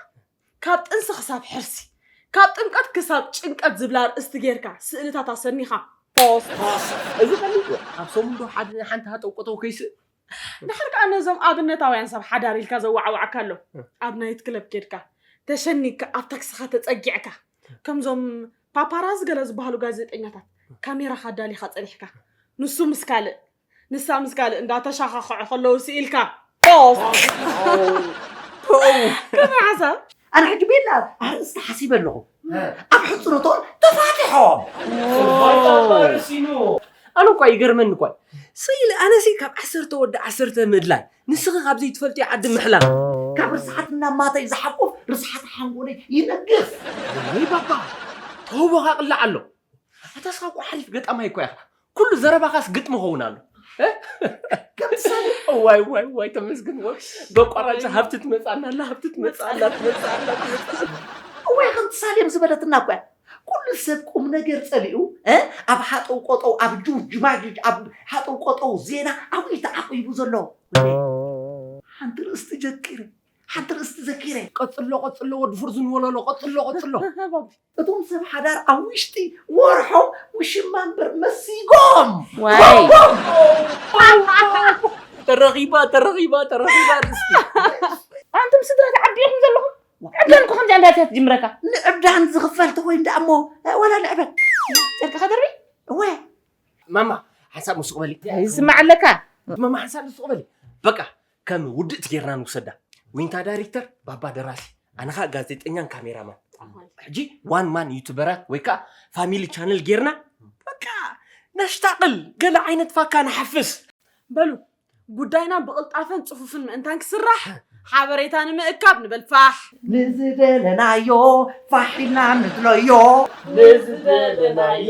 ካብ ጥንሲ ክሳብ ሕርሲ፣ ካብ ጥምቀት ክሳብ ጭንቀት ዝብል ኣርእስቲ ጌርካ ስእልታት ኣሰኒኻ ፖስት ፖስት እዚ ፈሊጥወ ኣብ ሰሙን ዶ ሓደ ናይ ሓንቲ ሃጠው ቀጠው ከይስእን። ድሓር ከኣ ነዞም ኣብነታውያን ሰብ ሓዳር ኢልካ ዘዋዓዋዕካ ኣሎ ኣብ ናይት ክለብ ኬድካ ተሸኒግካ ኣብ ታክስኻ ተጸጊዕካ ከምዞም ፓፓራዚ ገለ ዝበሃሉ ጋዜጠኛታት ካሜራኻ ኣዳሊኻ ጸኒሕካ ንሱ ምስ ካልእ ንሳ ምስ ካልእ እንዳተሻኻኸዑ ከለዉ ስኢልካ ከመይ ሓሳብ ኣነ ሕጂ ቤላ ኣርእስቲ ሓሲበ ኣለኹ ኣብ ሕፅረቶም ተፋቲሖም ኣነ እኳ ይገርመኒ እኳ ስኢለ ኣነሲ ካብ ዓሰርተ ወዲ ዓሰርተ ምድላይ ንስኺ ካብ ዘይትፈልጥዮ ዓዲ ምሕላፍ ካብ ርስሓት እናማተይ ዝሓቁፍ ርስሓት ሓንጎለይ ይነግፍ ወይ ባባ ተውቦኻ ቅላዕ ኣሎ ኣታስኻ እኮ ሓሪፍ ገጣማይ እኳ ኢኻ ኩሉ ዘረባኻስ ግጥሚ ኸውን ኣሎ ከምቲ ሳሌ ዋይ ዋይ ዋይ ተመስግን ወይ በቋራጭ ሃብቲ ትመፅኣና ኣላ ሃብቲ ትመፅኣላ ትመፅኣላ ወይ ከምቲ ሳሌም ዝበለትና እኳ እያ ኩሉ ሰብ ቁም ነገር ፀሊኡ እ ኣብ ሃጠው ቆጠው ኣብ ጁጅ ጅማጅጅ ኣብ ሃጠው ቆጠው ዜና ኣብኡ እዩ ተዓቂቡ ዘሎ ወለይ ሓንቲ ርእስቲ ጀቂረ ሓንቲ ርእስቲ ዘኪረ ቀጽሎ ቀጽሎ ወዲ ፍርዙን ወለሎ ቀጽሎ ቀጽሎ እቶም ሰብ ሓዳር ኣብ ውሽጢ ወርሖም ውሽማ እምበር መሲጎም ዋይ ተረኺባ ተረኺባ ተረኺባ ርስቲ ኣንቱም ስድራ ተዓዲኹም ዘለኹም ዕብዳን እኮ ከምዚ ኣንዳ ትጅምረካ ንዕብዳን ዝኽፈል ተኮይኑ ደኣ እሞ ወላ ንዕበል ጨርቂ ከደርቢ እወ ማማ ሓንሳብ ምስቕ በሊ ይስማዕ ኣለካ ማማ ሓንሳብ ምስቕ በሊ በቃ ከም ውድእቲ ጌርና ንውሰዳ። ዊንታ ዳይሪክተር፣ ባባ ደራሲ፣ ኣነ ከኣ ጋዜጠኛን ካሜራማን። ሕጂ ዋን ማን ዩቱበራት ወይ ከኣ ፋሚሊ ቻነል ጌርና በቃ ነሽታቕል፣ ገለ ዓይነት ፋካ ንሓፍስ። በሉ ጉዳይና ብቕልጣፈን ጽፉፍን ምእንታን ክስራሕ ሓበሬታ ንምእካብ ንበል ፋሕ። ንዝደለናዮ ፋሕ ኢልና ንብሎዮ። ንዝደለናዮ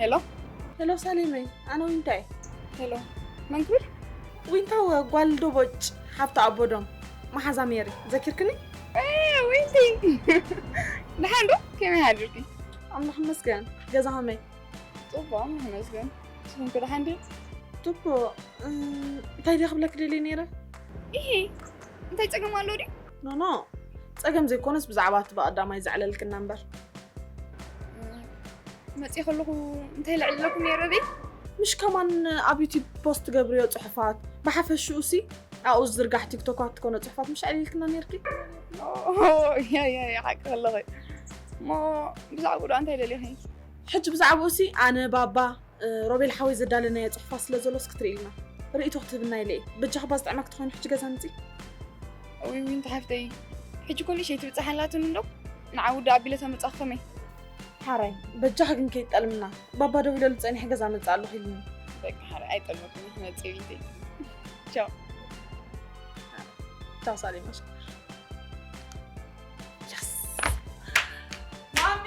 ሄሎ ሄሎ፣ ሳሌመይ ኣነ ዊንታ እየ። ሄሎ መን ትብል? ዊንታ ጓል ዶቦጭ ሓብቲ ኣቦዶም መሓዛ ሜሪ ዘኪርክኒ? ዊንቲ ደሓን ዶ ከመይ ሓድርኪ? ኣምላኽ ይመስገን። ገዛ ከመይ? ፅቡቅ ኣምላኽ ይመስገን። ንስኹም ከ ደሓን ድዩ? ፅቡቅ እንታይ ድየ ክብለኪ ደልየ ነይረ? ይሄ እንታይ ፀገም ኣሎ ድዩ? ኖኖ ፀገም ዘይኮነስ ብዛዕባ እቲ ብቀዳማይ ዘዕለልክና እምበር መፅእ ከለኹ እንታይ ልዕለኩም ነይረ ቤት ምሽ ከማን ኣብ ዩቲብ ፖስት ትገብርዮ ፅሑፋት ብሓፈሽኡ ሲ ኣብኡ ዝዝርጋሕ ቲክቶካት ትኮነ ፅሑፋት ምሽ ዕልልክና ነርኪ ሓቂ ከለኺ እሞ ብዛዕባ ጉዳ እንታይ ደሊኺ ሕጂ ብዛዕባኡ ሲ ኣነ ባባ ሮቤል ሓወይ ዘዳለናዮ ጽሑፋ ስለ ዘሎ እስኪ ትርእይልና ርእይቶ ክትህብና ኢለ እየ በጃኻ እባ ዝጥዕመክ ተኾይኑ ሕጂ ገዛ ምጺ ወይ ዊንቲ ሓፍተይ ሕጂ ኮኒ ሸይ ትብጽሕ ኣላትን እንዶ ንዓ ውዲ ኣቢለ ተመጻኽ ከመይ ሓራይ በጃኻ ግን ከይትጠልምና ባባ ደው ኢለሉ ጸኒሐ ገዛ መጽእ ኣለኹ ኢሉኒ በቃ ሓራይ ኣይጠልመኩም ክመጽእ ዊንተይ ቻው ቻው ሳሌ ማሽ ማሚ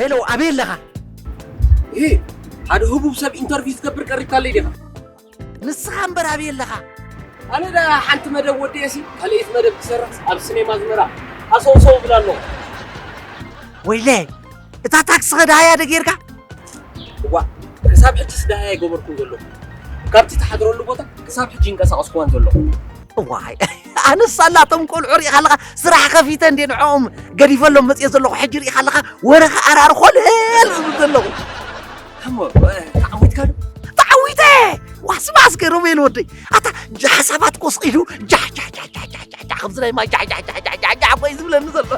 ሄሎ ኣበይ ኣለኻ? ይህ ሓደ ህቡብ ሰብ ኢንተርቪው ዝገብር ቀሪብካለይ ዲኻ? ንስኻ እምበር ኣበይ ኣለኻ? ኣነ ዳ ሓንቲ መደብ ወዲኤሲ ካልኣይቲ መደብ ክሰርሕ ኣብ ሲኔማ ዝመራ ኣሰውሰው ብላ ኣለኹ። ወይለ እታ ታክሲ ከዳሃያ ዶ ጌርካ? እዋ ክሳብ ሕጂስ ዳሃያ ኣይገበርኩን ዘለኹ። ካብቲ ተሓድረሉ ቦታ ክሳብ ሕጂ ይንቀሳቐስኩዋን ዘለኹ። እዋይ ኣነስ ሳላ እቶም ቆልዑ ርኢኻ ኣለኻ ስራሕ ከፊተ እንዴ ንዕኦም ገዲፈሎም መፅኦ ዘለኹ ሕጂ ርኢኻ ኣለኻ ወረ ክኣራር ኮልል ዝብል ዘለኹ እሞ ተዓዊትካ ዶ ተዓዊተ ዋስባስ ገሮሜል ወደይ ኣታ ሓሳባት ኮስ ኢሉ ጃሕጃሕጃሕጃሕጃሕጃሕ ከምዚ ናይ ማይ ጃሕጃሕጃሕጃሕጃሕ ኮይ ዝብለኒ ዘሎ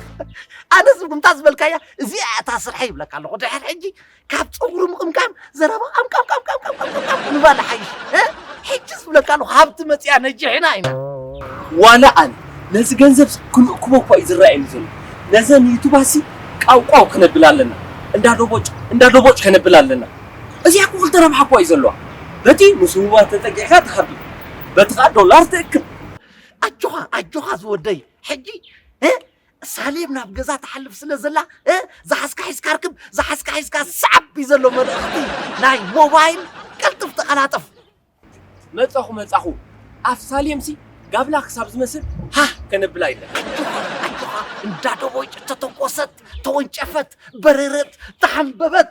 ኣነስ ብምታ ዝበልካያ እዚኣ እታ ስርሐ ይብለካ ኣለኹ ድሕር ሕጂ ካብ ፀጉሪ ምቕምቃም ዘረባ ኣምቃምቃምቃምቃምቃም ምባል ይሓይሽ እ? ሕጂ ዝብለካ ኣለኹ ሃብቲ መፅያ ነጂሕና ኢና ዋላ ኣነ ነዚ ገንዘብ ክንእክቦ እኳ እዩ ዝረኣየኒ ዘሎ ነዘን ዩቱባሲ ቃውቃው ከነብል ኣለና እንዳ ዶቦጭ እንዳ ዶቦጭ ከነብል ኣለና እዚኣ እኮ ክልተ ረብሓ እኳ እዩ ዘለዋ በቲ ምስ ህቡባት ተጠጊዕካ ትኸፍል በቲ ከዓ ዶላር ትእክብ ኣጆኻ ኣጆኻ ዝወደይ ሕጂ እ? ሳሌም ናብ ገዛ ትሓልፍ ስለ ዘላ እ ዝሓዝካ ሒዝካ ርክብ ዝሓዝካ ሒዝካ ሰዓብ እዩ ዘሎ መልእኽቲ ናይ ሞባይል ቀልጥፍ ተቐላጠፍ መጻኹ መጻኹ ኣፍ ሳሌምሲ ጋብላ ክሳብ ዝመስል ሃህ ከነብላ ይለ ኣጆኻ እንዳ ደቦጭ ተተኮሰት ተወንጨፈት በረረት ተሓንበበት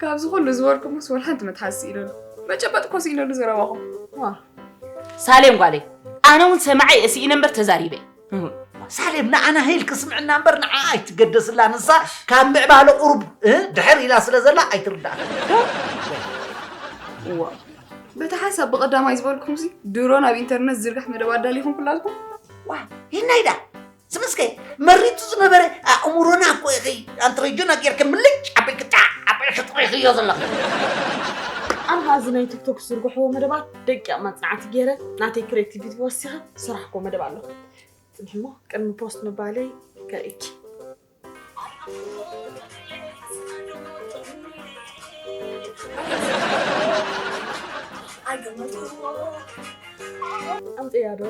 ካብዚ ኩሉ ዝበልኩ ምስ ወላ ሓንቲ መትሓዝ ስኢለሉ መጨበጥ እኮ ስኢለሉ ዘረባኹም ሳሌም ጓለይ ኣነ እውን ሰማዐ እየ ስኢነ እምበር ተዛሪበ ሳሌም ንዓና ህይል ክስምዕና እምበር ንዓ ኣይትገደስላ ንሳ ካብ ምዕባለ ቁሩብ ድሕር ኢላ ስለ ዘላ ኣይትርዳእ ዋ በቲ ሓሳብ ብቐዳማይ ዝበልኩም ሲ ድሮ ናብ ኢንተርነት ዝርግሕ መደብ ኣዳሊኹም ኩላልኩም ዋ ይናይዳ ስምስከ መሪቱ ዝነበረ ኣእምሮና እኮ ኢኺ ኣንትረጆና ጌርክ ምልጭ ዓበይ ክጣዕ ዓበይ ሽጥሪኽዮ ዘለኺ ኣንሃዚ ናይ ቲክቶክ ዝርግሕዎ መደባት ደቂቕ መፅናዕቲ ገይረ ናተይ ክሬቲቪቲ ወሲኸ ስራሕ እኮ መደብ ኣሎ ፅንሕሞ ቅድሚ ፖስት ምባለይ ከርእኪ ኣምፅያ ዶ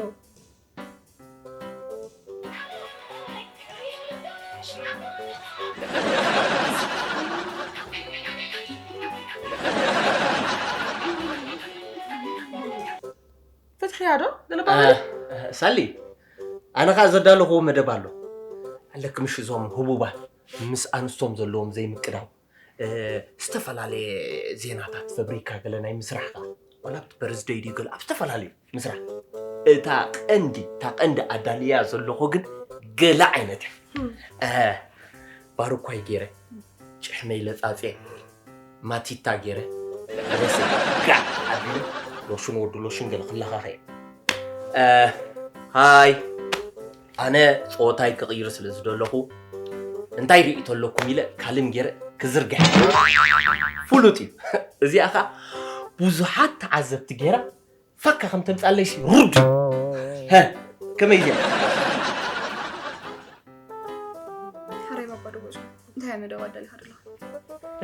ፍትሕያ ዶ ገለባበለ ሳሊ ኣነ ከዓ ዘዳለኹዎ መደብ ኣሎ ኣለክምሽ እዞም ህቡባት ምስ ኣንስቶም ዘለዎም ዘይምቅዳው ዝተፈላለየ ዜናታት ፈብሪካ ገለ ናይ ምስራሕ ከዓ ዋላ ኣብቲ በርዝደይ ድዩ ገለ ኣብ ዝተፈላለዩ ምስራሕ እታ ቀንዲ እታ ቀንዲ ኣዳልያ ዘለኹ ግን ገለ ዓይነት እያ ባርኳይ ገይረ ጭሕመይ ለፃፅየ ማቲታ ጌረ ለበሰ ጋዕ ኣቢሉ ሎሽን ወዲ ሎሽን ገለ ክለኻኸ እየ እ፣ ሃይ ኣነ ፆወታይ ክቕይር ስለ ዝደለኹ እንታይ ርእይቶ ኣለኩም ኢለ ካልም ጌረ ክዝርግሐ ፍሉጥ እዩ እዚኣ ከዓ ብዙሓት ተዓዘብቲ ጌራ ፋካ ከም ተምጻለይ ሲ ሩድ ሀ ከመይ እያ ሓረይ ባባ ደወጹ እንታይ መደብ ኣዳሊኻ ደለኻ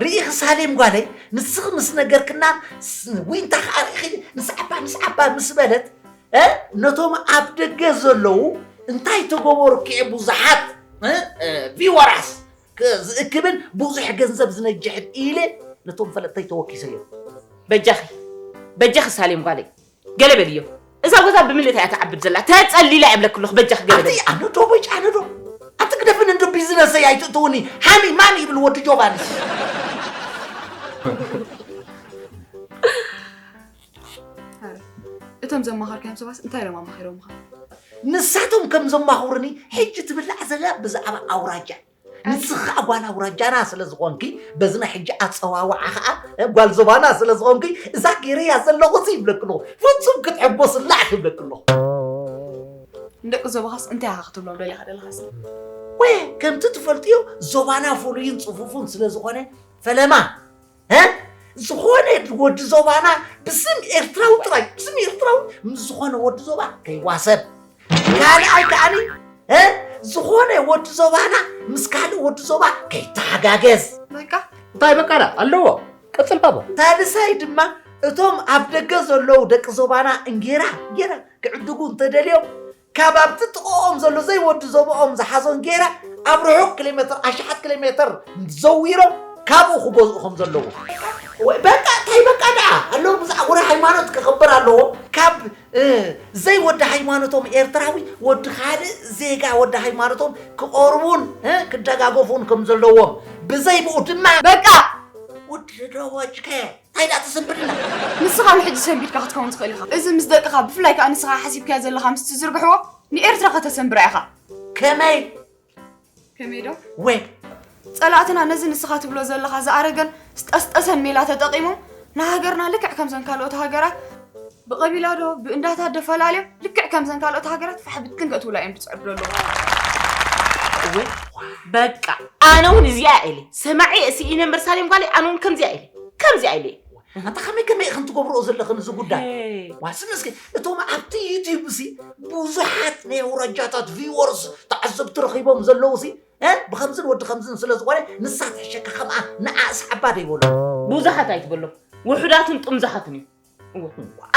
ርኢኺ ሳሌም ጓለይ ንስኺ ምስ ነገርክና ዊንታ ከዓ ርኢኺ ንስዓባ ንስዓባ ምስ በለት እ ነቶም ኣብ ደገ ዘለዉ እንታይ ተገበሩ ክዔ ብዙሓት እ፣ እ፣ ቪወራስ ዝእክብን ብዙሕ ገንዘብ ዝነጅሕን ኢለ ነቶም ፈለጥተይ ተወኪሰ እዮ። በጃኺ በጃኺ ሳሌም ጓለይ ገለ በልዮ እዛ ጎዛ ብምልእታ እያ ትዓብድ ዘላ ተጸሊላ እያ ብለክ ኣለኹ በጃኺ ገለ በልዮ ኣነ ዶ በጭ ኣነ ዶ ኣቲ ግደፍን እንዶ ቢዝነሰይ ኣይትእትውኒ ሃኒ ማኒ ይብል ወዲ ጆባኒ እቶም ዘማኸርካዮም ሰባት እንታይ ኢሎም ኣማኺሮምኻ? ንሳቶም ከም ዘማኽሩኒ ሕጂ ትብላዕ ዘላ ብዛዕባ ኣውራጃ ንስኺ ከዓ ጓል ኣውራጃና ስለ ዝኾንኪ በዚ ናይ ሕጂ ኣፀዋውዓ ከዓ ጓል ዞባና ስለ ዝኾንኪ እዛ ገይረያ ዘለኹ ሲ ይብለክ ኣለኹ ፍፁም ክትዕጎስላ እያ ክብለክ ኣለኹ ንደቂ ዞባኻስ እንታይ ኢኻ ክትብሎም ደሊኻ ደለኻስ ወይ ከምቲ ትፈልጥዮ ዞባና ፍሉይን ፅፉፉን ስለ ዝኾነ ፈለማ ዝኾነ ወዲ ዞባና ብስም ኤርትራዊ ጥራይ ብስም ኤርትራዊ ምስ ዝኾነ ወዲ ዞባ ከይዋሰብ ካልኣይ ከዓኒ ዝኾነ ወዲ ዞባና ምስ ካልእ ወዲ ዞባ ከይተሓጋገዝ በቃ እንታይ በቃ ኣለዎ ቅፅል ባባ ታልሳይ ድማ እቶም ኣብ ደገ ዘለዉ ደቂ ዞባና እንጌራ ጌራ ክዕድጉ እንተደልዮም ካብ ኣብቲ ጥቕኦም ዘሎ ዘይወዲ ዞባኦም ዝሓዞን ገይራ ኣብ ርሑቕ ኪሎሜተር ኣሽሓት ኪሎሜተር ዘዊሮም ካብኡ ክገዝኡ ከም ዘለዎ ወይ በቃ እንታይ በቃ ደኣ ኣለዉ ብዛዕባ ወረ ሃይማኖት ክኽብር ኣለዎ ካብ ዘይወዲ ሃይማኖቶም ኤርትራዊ ወዲ ካልእ ዜጋ ወዲ ሃይማኖቶም ክቐርቡን ክደጋገፉን ከም ዘለዎም ብዘይብኡ ድማ በቃ ውድድሮዎችከ እንታይ ደኣ ትስንብድና? ንስኻ ውን ሕጂ ሰንቢድካ ክትከውን ትኽእል ኢኻ። እዚ ምስ ደቅኻ ብፍላይ ከኣ ንስኻ ሓሲብካዮ ዘለኻ ምስ ትዝርግሕዎ ንኤርትራ ከተሰንብራ ኢኻ። ከመይ? ከመይ ዶ? ወይ! ጸላእትና ነዚ ንስኻ ትብሎ ዘለኻ ዝኣረገን ዝጠስጠሰን ሜላ ተጠቒሞም ንሃገርና ልክዕ ከምዘን ካልኦት ሃገራት ብቐቢላ ዶ ብእንዳታት ዶ ፈላልዮም ልክዕ ከምዘን ካልኦት ሃገራት ፋሕ ብትን ከእትውላ እዮም ዝፅዕዱ ዘለዉ እወ በቃ ኣነ እውን እዚኣ ኢለ ሰማዒ ስኢነ እምበር ሳሌም ጓለይ ኣነ እውን ከምዚኣ ኢለ ከምዚኣ ኢለ ኣንታ ከመይ ከመይ ኢኽን ትገብርኦ ዘለኽን እዚ ጉዳይ ዋስም እስኪ እቶም ኣብቲ ዩትዩብ እሲ ብዙሓት ናይ ኣውራጃታት ቪወርስ ተዓዘብቲ ረኺቦም ዘለዉ እሲ ብከምዝን ወዲ ከምዝን ስለ ዝኾነ ንሳ ተሸካ ከምኣ ንኣ ስዓባ ደይበሉ ብዙሓት ኣይትበሎም ውሑዳትን ጥምዙሓትን እዩ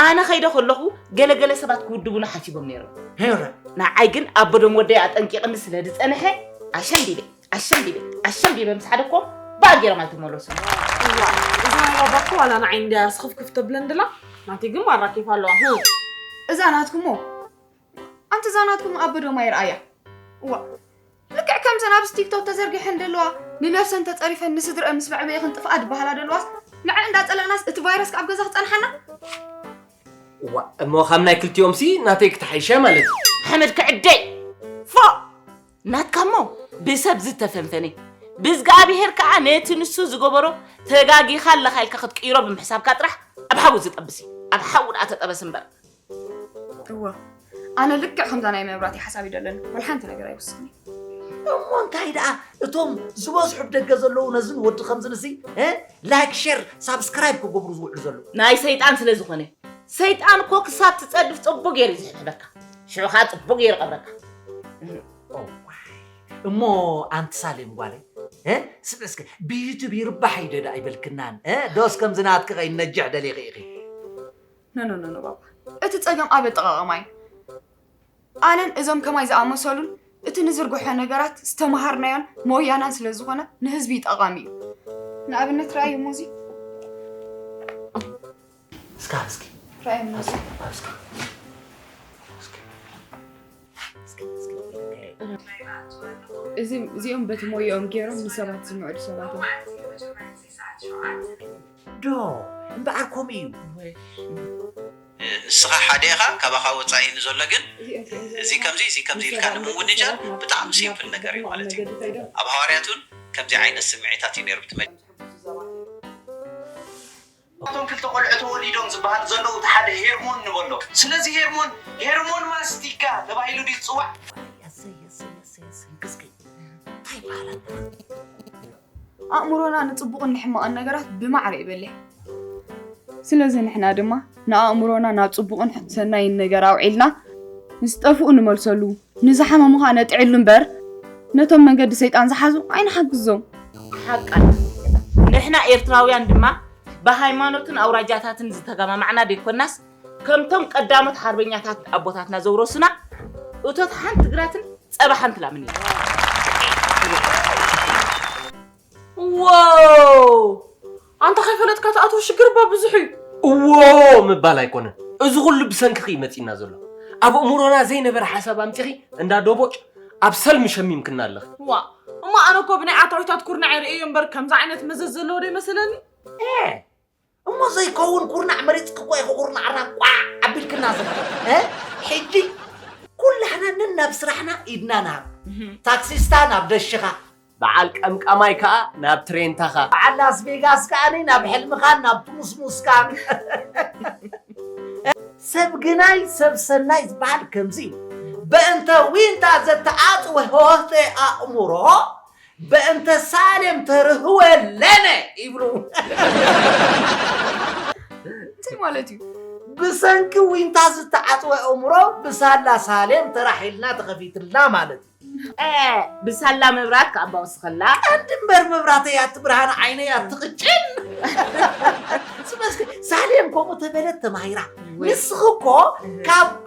ኣነ ከይደ ከለኹ ገለገለ ሰባት ክውድቡና ሓሲቦም ነይሮም ንዓይ ግን ኣቦዶም ወደይ ኣጠንቂቕኒ ስለ ዝፀንሐ ኣሸንዲበ ኣሸንዲበ ኣሸንዲበ ምስ ሓደኮም ባእ ገይሮም ኣይተመለሱ እዛ ባባኮ ዋላ ንዓይ እንድያ ስኽፍክፍ ተብለን ድላ ናተይ ግን ማራ ኬፍ ኣለዋ እዛ ናትኩሞ ኣንቲ እዛ ናትኩም ኣቦ ዶ ማይ ርኣያ እዋ ልክዕ ከምዘን ኣብዚ ቲክቶክ ተዘርጊሐን ዘለዋ ንነብሰን ተፀሪፈን ንስድረአን ምስ መዕበኢኽን ጥፍኣ ድበሃላ ዘለዋስ ንዐ እንዳፀለእናስ እቲ ቫይረስ ካብ ገዛ ክፀንሓና እዋ እሞ ካብ ናይ ክልቲኦምሲ ናተይ ክትሓይሸ ማለት እዩ ሓመድ ክዕደይ ፎእ ናትካ እሞ ብሰብ ዝተፈንፈነ ብዝግኣብሄር ከዓ ነቲ ንሱ ዝገበሮ ተጋጊኻ ኣለኻ ኢልካ ክትቅይሮ ብምሕሳብካ ጥራሕ ኣብ ሓዊ ዝጠብስ እዩ ኣብ ሓዊ ደኣ ተጠበስ እምበር እወ ኣነ ልክዕ ከምዛ ናይ መብራቲ ሓሳብ እዩ ደለኒ ወላ ሓንቲ ነገር ኣይውስኽን እሞ እንታይ ደኣ እቶም ዝበዝሑ ብ ደገ ዘለዉ ነዝን ወዲ ከምዝን እሲ ላይክ ሸር ሳብስክራይብ ክገብሩ ዝውዕሉ ዘለዉ ናይ ሰይጣን ስለ ዝኾነ ሰይጣን እኮ ክሳብ ትጸድፍ ጽቡቅ ገይሩ እዩ ዝሕብረካ ሽዑ ከዓ ጽቡቅ ገይሩ ቀብረካ እሞ ኣንቲ ሳሌም ጓለይ እ ስምዕ እስከ ብዩቱብ ይርባሕ እዩ ደዳ ኣይበልክናን እ ዶስ ከምዚ ናትኪ ከይነጅሕ ደሊኺ ኢኺ ኖኖኖኖ ባባ እቲ ጸገም ኣብ ኣጠቓቕማ እዩ። ኣነን እዞም ከማይ ዝኣመሰሉን እቲ ንዝርግሖ ነገራት ዝተመሃርናዮን ሞያናን ስለ ዝኾነ ንህዝቢ ጠቓሚ እዩ። ንኣብነት ረኣዩ እሞ እዚ እስካ እስኪ ረኣዩ እሞ እዚ እስኪ እዚ እዚኦም በቲ ሞያኦም ገይሮም ንሰባት ዝምዕዱ ሰባት እዮም። ዶ እምበኣር ከምኡ እዩ። ንስኻ ሓደ ኢኻ ካባኻ ወጻኢ ንዘሎ ግን እዚ ከምዚ እዚ ከምዚ ኢልካ ንምውንጃል ብጣዕሚ ሲምፕል ነገር እዩ ማለት እዩ ኣብ ሃዋርያት ውን ከምዚ ዓይነት ስምዒታት እዩ ኔሩ ብቲ ካብቶም ክልተ ቆልዑ ተወሊዶም ዝበሃሉ ዘለዉ እቲ ሓደ ሄርሞን ንበሎ ስለዚ ሄርሞን ሄርሞን ማስቲካ ተባሂሉ ድዩ ዝጽዋዕ? ዋይ ኣሰይ ኣሰይ ኣሰይ ኣሰይ ግዝግይ ታይ በሃላ ኣለኻ። ኣእምሮና ንጽቡቕን ንሕማቕን ነገራት ብማዕረ ይበልሕ ስለዚ ንሕና ድማ ንኣእምሮና ናብ ጽቡቕን ሰናይን ነገር ኣውዒልና ንዝጠፍኡ ንመልሰሉ ንዝሓመሙ ኸዓ ነጥዕሉ እምበር ነቶም መንገዲ ሰይጣን ዝሓዙ ኣይንሓግዞም ሓቃ ንሕና ኤርትራውያን ድማ ብሃይማኖትን ኣውራጃታትን ዝተገማማዕና ደይኮናስ ከምቶም ቀዳሞት ሓርበኛታት ኣቦታትና ዘውረሱና እቶት ሓንቲ ግራትን ፀባ ሓንቲ ላምን እዩ ዋው ኣንተ ከይፈለጥካ ትኣትዎ ሽግር እባ ብዙሕ እዩ እዎ ምባል ኣይኮነን እዚ ኩሉ ብሰንክኺ እዩ መፂና ዘሎ ኣብ እምሮና ዘይነበረ ሓሳብ ኣምፂኺ እንዳ ዶቦጭ ኣብ ሰልሚ ሸሚምክና ኣለኺ ዋ እሞ ኣነ እኮ ብናይ ኣታዊታት ኩርናዕ ርእየ እምበር ከምዚ ዓይነት መዘዝ ዘለዎ ዶ ይመስለኒ እሞ ዘይከውን ኩርናዕ መሪፅኪ እኮ ኢኹ ኩርናዕና ቋዕ ኣቢልክና ዝነበረ እ? ሕጂ ኩላህና ነናብ ስራሕና ኢድና ንሃብ ታክሲስታ ናብ ደሽኻ በዓል ቀምቃማይ ከዓ ናብ ትሬንታኻ በዓል ላስ ቬጋስ ከዓኒ ናብ ሕልምኻን ናብ ትሙስሙስካን ሰብ ግናይ ሰብ ሰናይ ዝበሃል ከምዚ እዩ በእንተ ዊንታ ዘተኣጽወ ሆህተ ኣእምሮ በእንተ ሳሌም ተርህወ ለነ ይብሉ። እንታይ ማለት እዩ? ብሰንኪ ዊንታ ዝተዓጽወ ኣእምሮ ብሳላ ሳሌም ተራሒልና ተኸፊትልና ማለት እዩ። ብሳላ መብራት ከዓ ባወስኸላ ቀንዲ እምበር መብራተይ ኣትብርሃን ዓይነይ ኣትቕጭን ስመስኪ ሳሌም ከምኡ ተበለት ተማሂራ ንስኺ እኮ ካብ